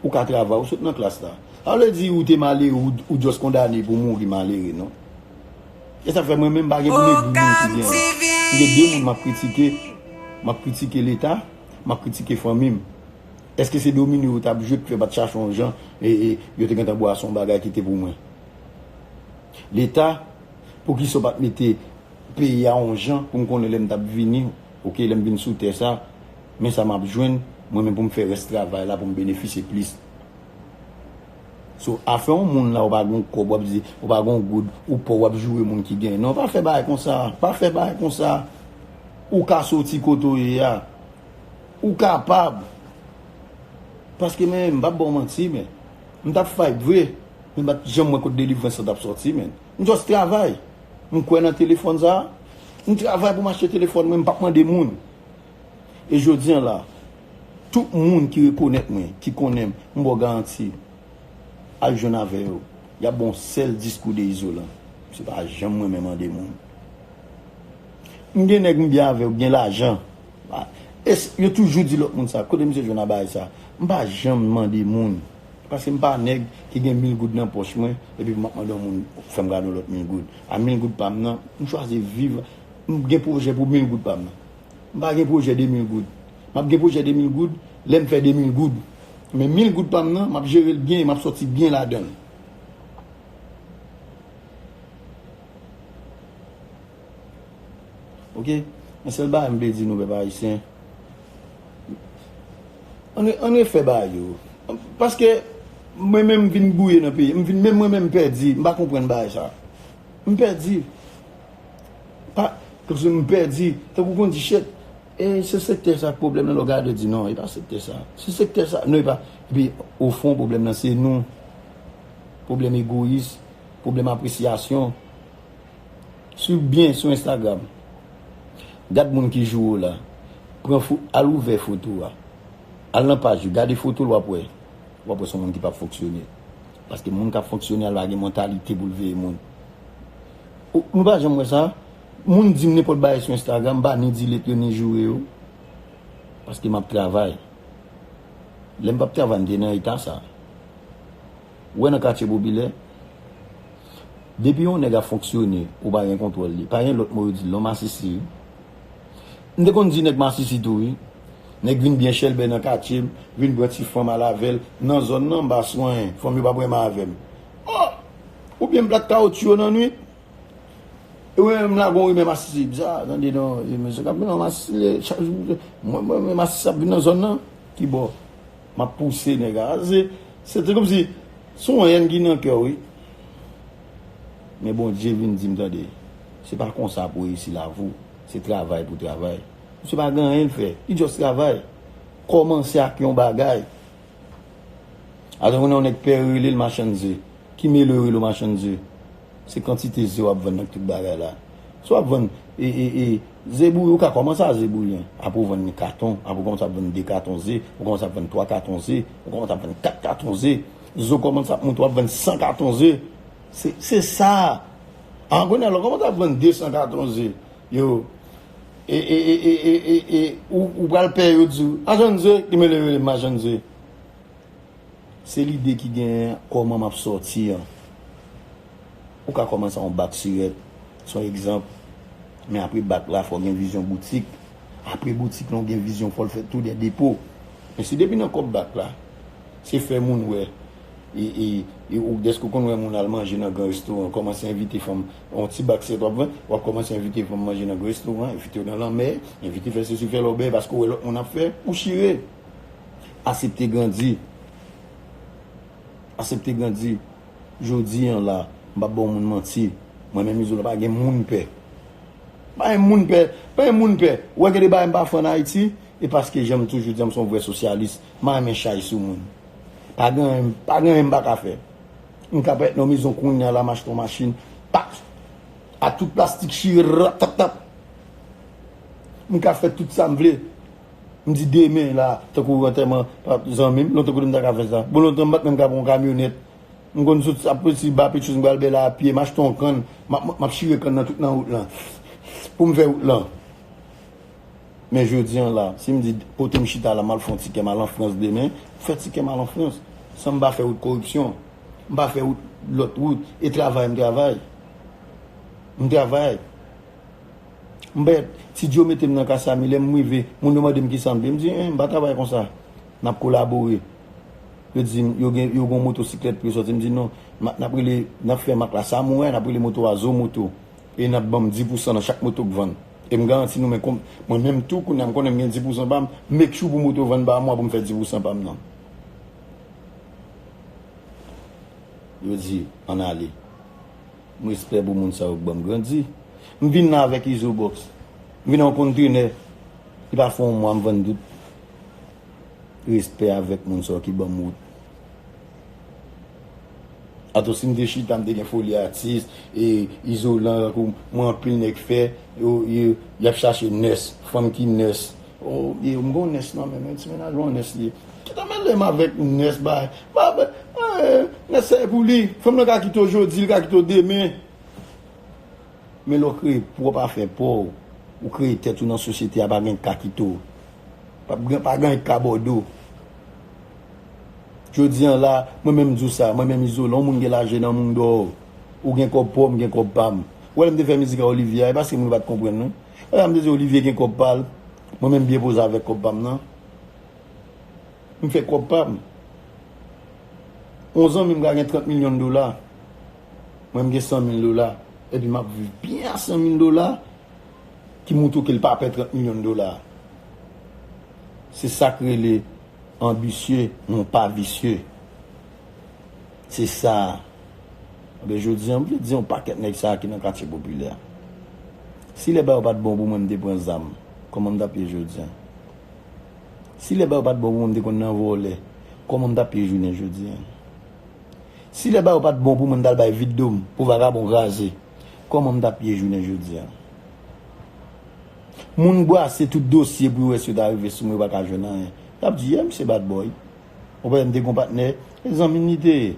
Ou ka travay ou sot nan klas la. Sa pa vle di ou te malere ou just kondane pou mouri malere non. E sa fè mwen menm m pa gen pou m egri moun ki gen. M gen de moun map kritike. Map kritike leta, map kritike fanmi m. Eske se domino yo tap jwe pkyo pat chache yon jan yo te gentan bwa son bagay kite pou mwen leta poukisa ou pat mete peyi a yon jan poum konnen lèm tap vini ok lèm vin sou tè sa men sa map jwenn mwen men poum fè rès travay la poum benefisye plis so afè yon moun la ou pa gon kòb wap di ou pa gon goud ou pòv wap joure moun ki gen non pa fè bagay konsa pa fè bagay konsa ou ka soti kote ou ye a. Ou kapab. Paske men, m pap ba w manti men. M tap fight vre, men m pat janm wè kot delivrans lan tap soti men. M just travay. M kwè nan telefòn sa. M travay pou m achte telefòn mwen, m pap mande moun. E jodi an la, tout moun ki rekonèt mwen, ki konnen m, m ba w garanti, al jwenn avè yo, y ap ba w yon sèl diskou de izolan. Misye pa janm renmen mande moun. M gen nèg m byen avè yo, ki gen lajan. Yo toujou di lòt moun sa. Kote misye jwenn abay sa. M pa janm mande moun. Paske m pa nèg ki gen mil goud nan pòch mwen epi m ap mande yon moun fè m gade yon lòt mil goud. A mil goud pa m nan, m chwazi viv. M gen pwojè pou mil goud pa m nan. M pa gen pwojè de mil goud. M ap gen pwojè de mil goud lè m fè de mil goud. Men mil goud pa m nan, m ap jere l byen e m ap soti byen ladan l. Ok men sèl bagay m vle di nou pèp ayisyen an refè bagay yo paske mwen menm m vin gouye nan peyi m menm mwen menm m pèdi m pa konprann bagay sa m pèdi m pèdi tankou kon di chet e se sektè sa k pwoblèm nan lè w gade w di non e pa sektè sa se sektè sa non e pa epi o fon pwoblèm nan se nou pwoblèm egoyis pwoblèm apresyasyon Swiv byen sou Instagram. Gad moun ki joure w la. Pran fo, al ouvè foto a. Al nan paj yo, gade foto l w ap wè. W ap wè son moun ki p ap fonksyone. Paske moun k ap fonksyone a l pa gen mantalite pou l veye moun. O, nou pa janm wè sa? Moun di m nenpòt bagay sou Instagram, m pa ni delete yo ni joure yo. Paske m ap travay. Lè m p ap travay m te nan eta sa. Ou wè nan katye popilè, depi yon nèg ap fonksyone, ou pa gen kontwòl li. Pa gen lòt mo yo di l non, masisi wi. M te konn di nèg masisi tou wi. Nèg vin byen chèlbè nan katye m, vin pran ti fanm al avè l. Nan zòn nan, m pa swanyen. Fanm yo pa breman avè m. O! Oubyen m plat kawotchou yo nan nuit. E mwen menm m lage yon rimè masisi. Bza, tande non, e mesye k ap vin nan masisi, chak jou, mwen mwen masisi ap vin nan zòn nan. Ki bò? Map pouse neg a. Se te komsi son haine ki nan kè w wi. Men Bondye vin di m tande, se pa konsa pou reyisi lavi w, se travay pou travay. Misye pa gen anyen l fè, li just travay. Komanse ak yon bagay. Alon konnen yon neg pè rele l machann ze. Ki mele rele w machann ze. Se kantite ze wap vann ak tout bagay la. Si wap vann ze bouyi ou ka kòmanse a ze bouyi an. Apre ou vann li katon, apre ou kòmanse ap vann 2 katon ze, ou kòmanse ap vann 3 katon ze, ou kòmanse ap vann 4 katon ze. Ze ou kòmanse ap monte wap vann 100 katon ze. Se sa. An kounye a lè ou kòmanse ap vann 200 katon ze, yo e ou pral pè yo di ou, machann ze, gen mele yo rele machann ze. Se lide ki genyen an kòman m ap sòti an. Ou ka kòmanse ak yon bak sirèt, se yon egzanp, men apre bak la fò w gen vizyon boutik. Apre boutik lan ou gen vizyon fò l fè tou 2 depo. Men si depi nan kòb bak la, se fè moun wè e ou dèske ou konn wè moun al manje nan gran restoran, kòmanse envite fanm, yon ti bak sirèt w ap vann, w ap kòmanse envite fanm manje nan gran restoran, envite yo nan lanmè, envite fè sesi fè lòbèy paske ou wè lòt moun ap fè, ou chire. Asepte grandi. Asepte grandi. Jodi an la, m pa baw moun manti. Mwen menm Izolan pa gen moun m pè. M pa gen moun m pè. M pa gen moun m pè. Ou wè gen de bagay m pa fè an Ayiti, e paske jan m toujou di an m se yon vrè sosyalis, m pa renmen chay sou moun. Pa gen anyen, pa gen anyen m pa ka fè. M ka pa nan yon mezon kounya la, m achte yon machin, pak! A tout plastik chire, rattatap! M ka fè tout sa m vle. M di demen la tankou antèman zanmi m, lontan kote m ta ka fè sa? Bon lontan m pa t menm ka pran yon kamyonèt. M konn sot ap sot si Bapetchous m pral Bèlè a pye, m achte yon kann, m ap m ap chire kann nan tout nan wout lan pou m fè wout lan. Men jodi an la, si m di kote m chita la m al fè yon ti kè m al an Frans demen, m fè ti kè m al an Frans san m pa fè wout koripsyon, m pa fè wout lòt wout e travay m travay. M travay. M pa et, si Djo mete m nan ka Samy, lè m rive, moun yo mande m kisa m vle. M di, en, m pa travay konsa. N ap kolabore. Yo di m, yo gen, yo gen yon motosiklèt pou yo sòti. M di non, ma, n ap rele, n ap fè mak la Samoura, n ap rele moto a Zo Moto. E n ap ban m di pousan nan chak moto k vann. E m garanti nou men konb, mwen menm tou, kounye a m konnen m gen di pousan pa m, m make sure pou moto vann pa mwa pou m fè di pousan pa m nan. Yo di, ann ale. M respè pou moun sa yo k banm grandi. M vin nan avèk izo box. M vin nan yon kontenè ki pa fè yon mwa m vann tout. Respè avèk moun sa yo ki banm wout. Atò si m te chita m te gen foli atis e izolan tankou mwen anpil nèg fè yo yap chache nès, fanm ki nès. Oh bby m gon nès nan menm wi ti mennaj mwen nès li ye Kita melem avèk nès bay pa bay eeh nès sa e pou li fanm nan ka kite w jodi li ka kite w demen men lè w kreye pwòp afè pa w ou kreye tèt ou nan sosyete a pa gen k ka kite w pap gen pa gen k ka bòde w jodi an la mwen menm m di w sa mwen menm Izolan yon moun gen laje nan moun dò ou gen kòb pa w m gen kòb pa m ou wè lè m te fè mizik a Olivia e paske moun yo pa t konprann non. Madame Désirée Olivier gen kob pal, mwen menm byen poze avek kob pam nan. M fè kob pam. On zanmi m ka gen 30 million dola, mwen m gen 100 mil dola, epi map viv byen a 100 mil dola, ki moutre ke l pa pè 30 million dola. Se sak rele anbisye, non pa visye. Se sa a. Anben jodi an, m vle di yon pakèt nèg sa a ki nan katye popilè a. Si lè ba yo pa t bon pou mwen m te pran zam, kòman m t ap ye jodi an? Si lè ba yo pa t bon pou mwen m te konn nan vòlè, kòman m t ap ye jounen jodi an? Si lè ba yo pa t bon pou mwen m t al bay vide do m pou vagabon kraze, kòman m t ap ye jounen jodi an? Moun brase tout dosye pou yo wè si yo ta rive sou mwen yo pa ka jwenn anyen. Y ap di, yè misye bad boy. Ou pa wè m te gon patnè, e zanmi m li te ye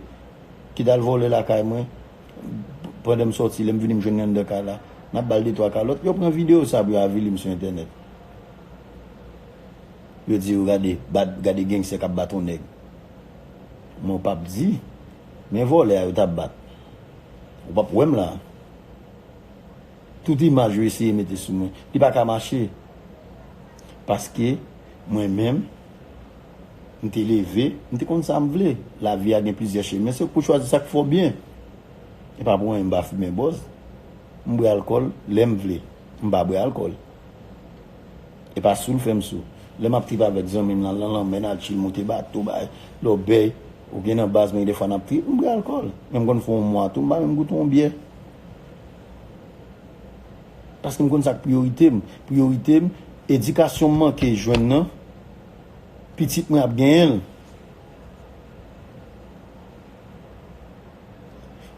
ki t al vòlè lakay mwen pandan m sòti lè m vini m jwenn li anndan kay la n ap ba l de twa kalòt yo pran videyo sa pou yo avili m sou entènèt yo di yo gade bad gade gangster k ap bat on nèg men w p ap di men vòlè a yo t ap bat ou p ap wè m la tout imaj yo eseye mete sou mwen li pa ka mache paske mwen menm. M te leve, m te konn sa m vle. Lavi a gen plizyè chemen, se ou k pou chwazi sa k fè w byen. E pa pou anyen m pa fimen bòz. M bwè alkòl lè m vle. M pa bwè alkòl. E pa sou l fè m sou. Lè m ap trip avèk zanmi m nan nan lanmè, n al chil, moute bato, bay lòbèy, oubyen nan baz mwen gen dèfwa n ap trip, m bwè alkòl. Men m konn fè yon mwa tou m pa menm goute yon byè. Paske m konn sa k priyorite m. Priyorite m, edikasyon m manke jwenn nan, Pitit mwen ap genyen l.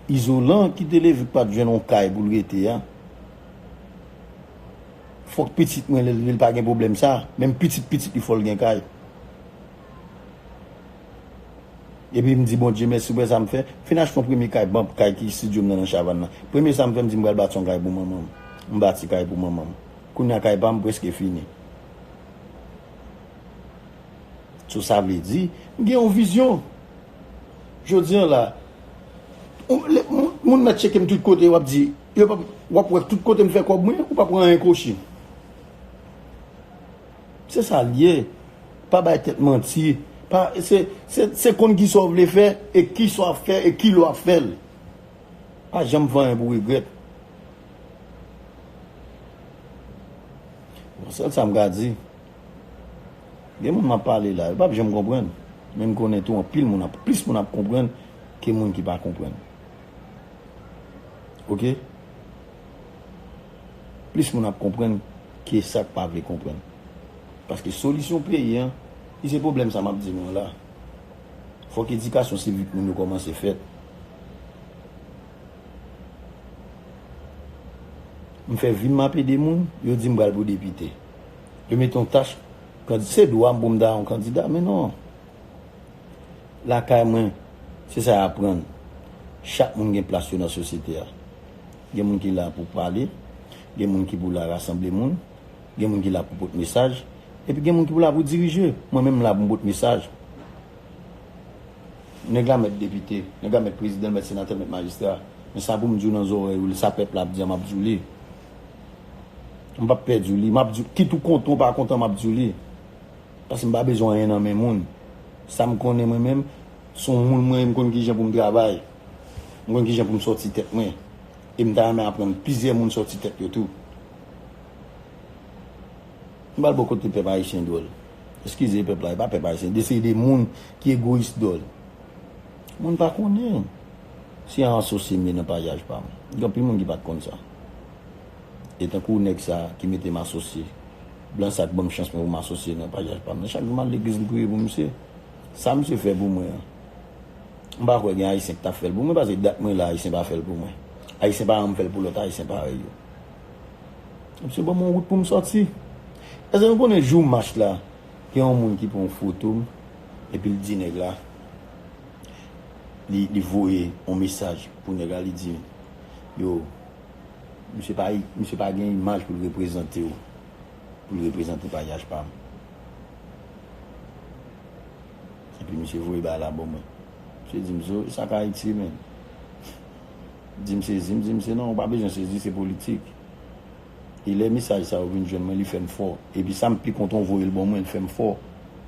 Izolan ki te leve k pat jwenn yon kay pou l rete a. Fòk pitit mwen lè l vin pa gen pwoblèm sa. Menm pitit pitit li fò l gen kay. Epi m di Bondye mèsi pou sa m fè. M fin achte yon premye kay banm kay ki studio m nan nan Chavann nan. Premye sa m fè m di m pral bati yon kay pou manman m. M bati kay pou manman m. Kounya kay pa m preske fini. So sa vle di, m gen yon vizyon. Jodi an la, moun mèt cheke m tout kote wap di, wap wè tout kote m fè kòb mwen, ou pa pran anyen kwochi. Se sa l ye, pa bay tèt manti, se konn ki sa w vle fè, e ki sa w ap fè, e ki lè w ap fè l. Pa janm fè anyen pou regrèt. Bon sèl sa m ka di, gen moun m ap pale la, yo p ap janm konprann. Men m konnen tou anpil moun ap, plis moun ap konprann ke moun ki pa konprann. Ok? Plis moun ap konprann ke sa k pa vle konprann. Paske solisyon peyi an, ki se pwoblèm sa m ap di nou la, fòk edikasyon sivik moun yo kòmanse fèt. M fè vi m map ede moun, yo di m pral pou depite. Yo mete yon tach kandida, se dwa m pou m ta yon kandida men non. Lakay mwen, se sa y aprann, chak moun gen plas yo nan sosyete a. Gen moun ki la pou pale, gen moun ki pou la rasanble moun, gen moun ki la pou pot mesaj, epi gen moun ki pou la pou dirije. Mwen menm m la pou m pot mesaj. Nèg la mèt depite, nèg la mèt prezidan, l mèt senatè, l mèt majistra. Men sa pou m di w nan zòrèy ou, sa pèp la ap di a m ap di w li. M p ap pè di w li. M ap di w, kit ou kontan ou pa kontan m ap di w li. Paske m pa bezwen anyen nan men moun. Sa m konnen mwen menm, s on moun mwen ye, m konn ki jan pou m travay. M konn ki jan pou m sòti tèt mwen. E m ta renmen aprann plizyè moun sòti tèt yo tou. M pral ba w kote pèp ayisyen dwòl. Eskize pèp la, e pa pèp ayisyen. De se de moun ki egoyis dwòl. Moun pa konnen se an asosye m ye nan pajaj pa m. Gen anpil moun ki pa t konn sa. E tankou nèg sa ki mete m asosye, blan sa ki ban m chans mwen pou m asosye nan pajaj pa m nan. Chak jou m al legliz m priye pou misye. Sa misye fè pou mwen an, m pa kwè gen ayisyen ki ta fè l pou mwen. Pase dat mwen la ayisyen pa fè l pou mwen. Ayisyen pa ranm fè l pou lòt ayisyen parèy yo. Msye banm yon wout poum sòti. Eske nou konnen jou mach la gen yon moun ki pran yon foto m epi l di nèg la li voye yon mesaj pou nèg la li di yo msye pa gen imaj pou l reprezante yo pou l reprezante paryaj pa m epi msye voye bagay la ban mwen msye di m zo e sa k Ayiti menm. Di m sezi, m di misye non ou pa bezwen sezi se politik. E lè mesaj sa yo vin jwenn mwen li fè m fò. Epi sa m pi kontan ou voye l ban mwen l fè m fò.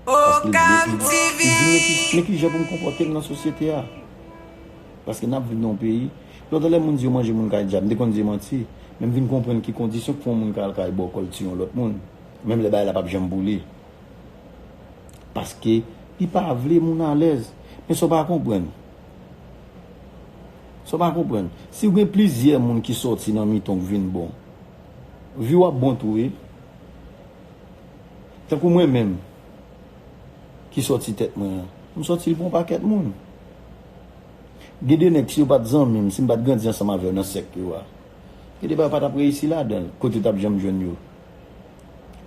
Paske li vle, li di m men kijan pou m konpòte m nan sosyete a. Paske n ap viv nan yon peyi, lontan lè moun di yo manje moun kay dyab m te konn di manti. Men m vin konprann ki kondisyon k fè yon moun ka al kay bòkò l tiye yon lòt moun. Menm lè bagay la pap janm pou li. Paske li pa vle moun alèz. Men sa w pa konprann. Sa w pa konprann, si w gen plizyè moun ki sòti nan mitan w vin bon, vi w ap bon tou wi. Tankou mwen menm ki sòti tèt mwen an, m sòti l pou yon pakèt moun. Gen de nèg si yo pa t zanmi m, si m pa t grandi ansanm avè yo nan sèk yo a, gen de bagay m pa t ap reyisi ladan l, kote yo t ap janm jwenn yo.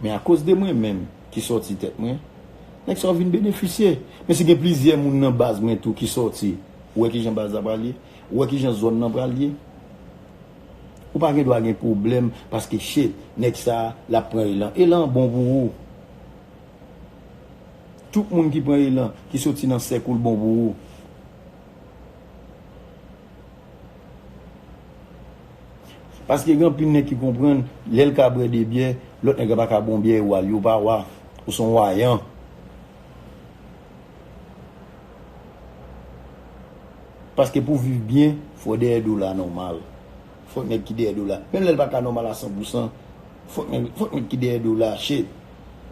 Men akoz de mwen menm ki sòti tèt mwen, nèg sa yo vin benefisye. Men si gen plizyè moun nan baz mwen tou ki sòti, ou wè kijan baz la pral ye, ou wè kijan zòn nan pral ye. Ou pa gen dwa gen pwoblèm paske che nèg sa lap pran elan. Elan an bon pou ou. Tout moun ki pran elan, ki sòti nan sèk ou l bon pou ou. Paske gen anpil nèg ki konprann lè l ka bwè 2 byè, lòt nèg la pa ka bon byè e wa li. Ou pa wa. Ou s on wayan. Paske pou viv byen, fò dèyè do la nòmal. Fòk nèg ki dèyè do la, menm lè l pa ka nòmal a san pou san, fòk nèg fòk nèg ki dèyè do la chèt.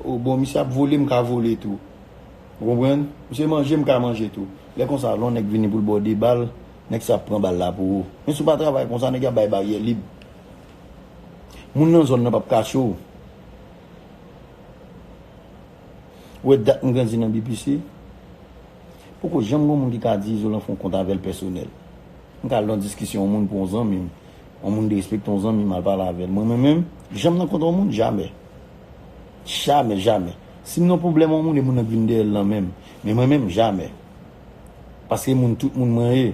O bon, misye ap vole, m ka vole tou. Ou konprann? Misye manje, m ka manje tou. Lè konsa, lè on nèg vini pou l ba w 2 bal. Nèg sa ap pran bal la pou ou. Men si w pa travay konsa nèg yo ap bay baryè lib. Moun nan zòn nan pap kache w. Ou wè dat m grandi nan BPC? Poko janm gen yon moun ki ka di Izolan fè yon kont avè l pèsonèl. M ka al nan yon diskisyon yon moun pou yon zanmi m. Yon moun derespekte yon zanmi m al pale avè l. Mwen menm menm, janm nan kont yon moun? Jamè. Jamè, jamè. Si m nan yon pwoblèm yon moun e moun nan k vin dèyè l nan menm. Men mwen menm, jamè. Paske moun tout moun mwen ye.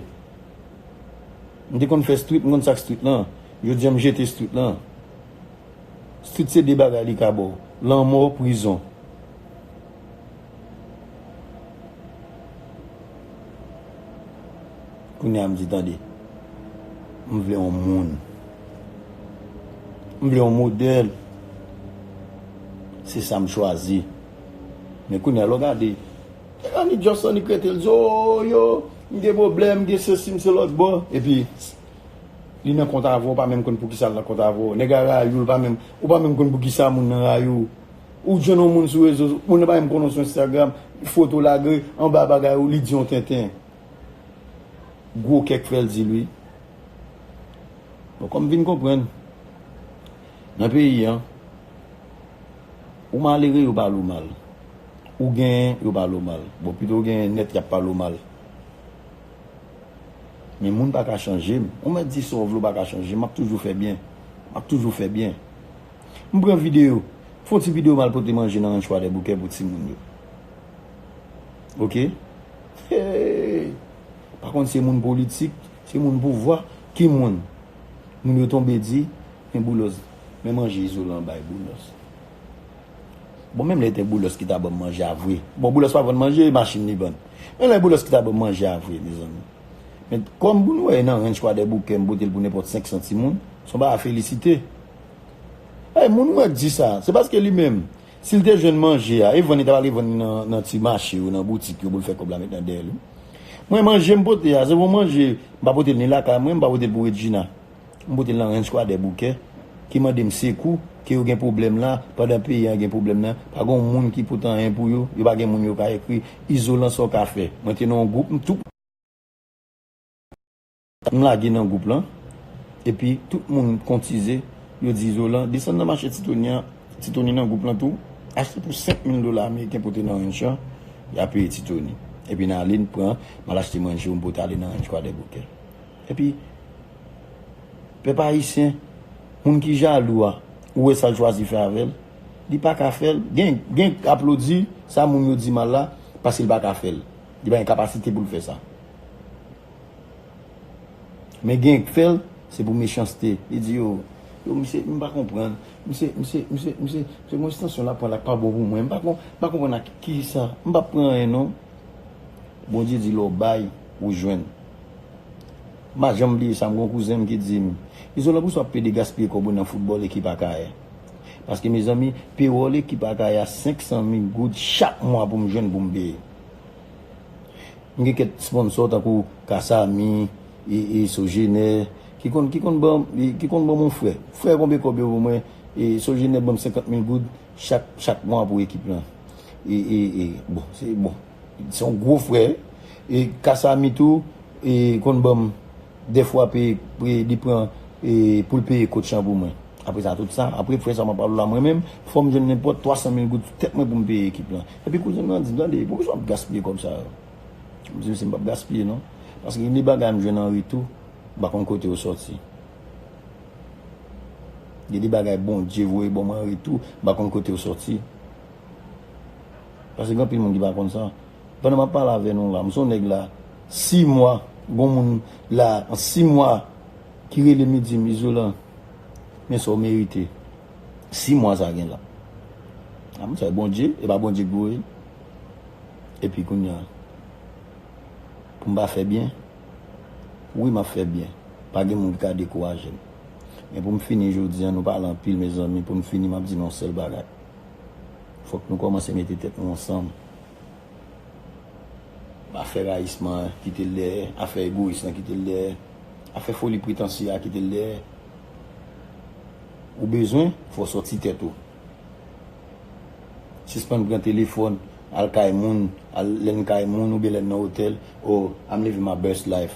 M te konn fè street, m konn sak street lan. Jodi an m jete street lan. Street se 2 bagay li ka ba w. Lanmò, prizon. Kounye a m di tande. M vle yon moun. M vle yon modèl. Se sa m chwazi. Men kounye a lè w gade. E annik just annik rete li di oo yo m gen pwoblèm m gen sesi m se lòt bò epi li nan kont avèw pa menm konn poukisa l nan kont avèw nèg la rayi w ou pa menm konn poukisa moun nan rayi w ou jwenn yon moun sou rezo moun nan pa menm konnen w sou enstagram foto w lage anba bagay ou li di yon tenten gwo kè k fè l di l wi bon kòm m vin konprann nan peyi an ou malere yo pale w mal Ou genyen yo pale w mal. Bon pito w genyen nèt yap pale w mal. Men moun pa ka chanje m. Ou mèt di sa w vle w pa ka chanje m. Map toujou fè byen. Map toujou fè byen. M pran videyo. Fon ti videyo m al pote manje nan Ranch Kwadèboukè pou timoun yo. Ok. Hee. Pa konn se moun politik, se moun pouvwa. Ki moun? Moun yo tonbe di men boulos men manje izolan bay boulos. Bon menm lè te boulos ki ta banm manje a vre bon boulos pa vann manje e machin li vann menm lè boulos ki ta banm manje a vre mezanmi men kòm pou nou wè e nan ranch kwadèboukè m pote l pou nenpòt 500 timoun son bagay a felisite e moun mwen k di sa se paske li menm si l te jwenn manje a e vann li ta prale vann li nan ti mache yo nan boutik yo pou l fè kòb la met nan dèyè l wi mwen manje m pote a se yon manje m pa pote l ni lakay mwen m pa pote l pou Redjina. M pote l nan Ranch Kwadè Boukè ki mande m sekou ke yo gen pwoblèm la pandan peyi an gen pwoblèm nan pa gen yon moun ki pot anyen pou yo yo pa gen moun yo ka ekri izolan sa w ka fè mwen te nan yon gwoup m tou m lage nan gwoup lan epi tout moun kontize yo di izolan desann nan mache titoni an titoni nan gwoup lan tou achte pou 5000 dola ameriken pote nan ranch lan y a peye titoni epi n ale n pran m al achte manje yo m pote ale nan Ranch Kwadè Boukè. Epi pèp ayisyen moun ki jalou a ou wè sal chwazi fè avèl li paka fèl gen gen aplodi sa moun yo di mal la paske li paka fèl li pa gen kapasite poul fè sa men gen k fèl se pou mechanste li di yo yo misye m pa konprann misye misye misye misye se gon estansyon lap pran la k pa bon pou mwen m pa kon m pa konprann ak kisa m pap pran anyen non Bondye di lè w bay ou jwenn. M pa janm bliye sa, m gen yon kouzen m ki di m, Izolan poukisa w ap plede gaspiye kòb ou nan foutbòl ekip Akayè? Paske mezanmi, pewòl ekip Akayè a 500 mil goud chak mwa pou m jwenn pou m peye. M gen kèk sponsò tankou Kasami, Sojenè ki konn ki konn ban ki konn ban m yon frè. Frè konbe kòb yo ban mwen, Sojenè ban m 50 mil goud chak chak mwa pou ekip lan. Bon, se bon. Se yon gwo frè e kasami tou e konn banm dèfwa pe pe li pran e poul peye kot chan pou mwen apre sa tout sa apre frè sa map pale w la mwen menm fòm jwenn nenpòt 300 mil goud sou tèt mwen poum peye ekip lan epi kouzen mwen an dim tande poukisa wap gaspiye kòb sa yo mdi misye mpap gaspiye non paske gen de bagay mjwenn an retou mpa konn kote yo sòti gen de bagay Bondye voye banm an retou mpa konn kote yo sòti. Pase gen anpil moun ki pa konn sa. Pandan map pale avè nou la, m son nèg la 6 mwa, gon moun la an 6 mwa ki relem li dim Izolan men sa w merite. 6 mwa sa gen la. A m fè Bondye, e pa Bondye k voye l. Epi kounye a pou m pa fè byen, wi map fè byen, pa gen moun ki ka dekouraje m. Men pou m fini jodi a, nou pale anpil mezanmi, pou m fini map di nou yon sèl bagay. Fok nou komanse mete tet nou ansanm. Afè rayisman an kite l dèyè, afè egoyis lan kite l dèyè, afè foli pretansye a kite l dèyè. Ou bezwen, fò w sòti tèt ou. Sispann pran telefòn, al kay moun, al lè n kay moun oubyen lè n nan otèl, oh, I'm living my best life.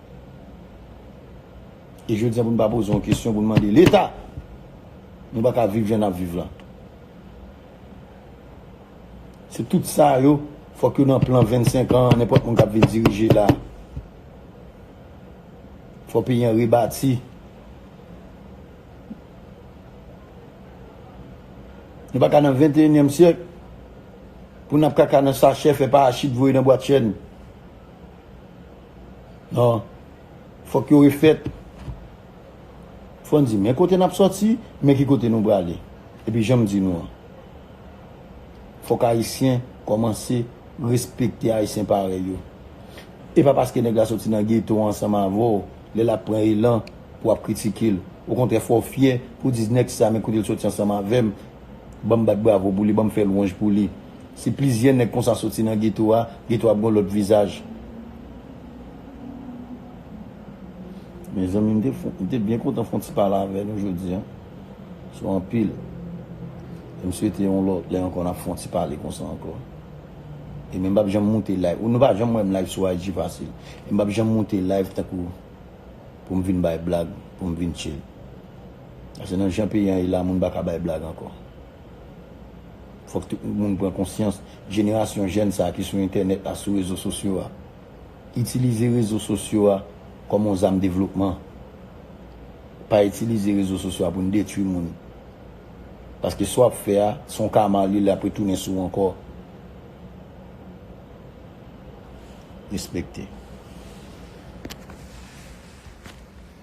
E jodi an pou nou pa poze yon kesyon pou nou mande leta. Nou pa ka viv jan nap viv lan. Se tout sa yo fok yo nan plan 25 an nenpot moun kap vin dirije la. Fok peyi an rebati. Nou pa ka nan 21 nyem syek pou nap kaka nan sachè fè parachit voye nan bwat chen. Non. Fòk yo refèt. Fò n di men kote n ap sòti, men ki kote nou prale. Epi jan m di nou an, fòk Ayisyen kòmanse respekte Ayisyen parèy yo. E pa paske nèg la sòti nan geto ansanm avè w, lè l ap pran elan pou w ap kritike l. Okontrè fò w fyè pou w di nèg sa men kote l sòti ansanm avè m. Banm bat bravo pou li banm fè lwanj pou li si plizyè nèg konsa soti nan geto a geto a ap gon lòt vizaj. Mezanmi m te byen kontan fon ti pale avè nou jodi an sou anpil e m swete yon lòt lè ankò n ap fon ti pale konsa ankò e men m p ap janm moute live ou nou pa janm wè m live sou IG fasil e m p ap janm moute live tankou pou m vin bay blag pou m vin tchil. Pase nan jan peyi an ye la moun paka bay blag ankò. Fòk tout moun pran konsyans, jenerasyon jèn sa ki sou entènèt la, sou rezo sosyo a. Itilize rezo sosyo a kòm yon zam devlopman. Pa itilize rezo sosyo a pou n detwi moun. Paske sa w ap fè a, se yon kama li, li ap retounen sou w ankò. Respekte.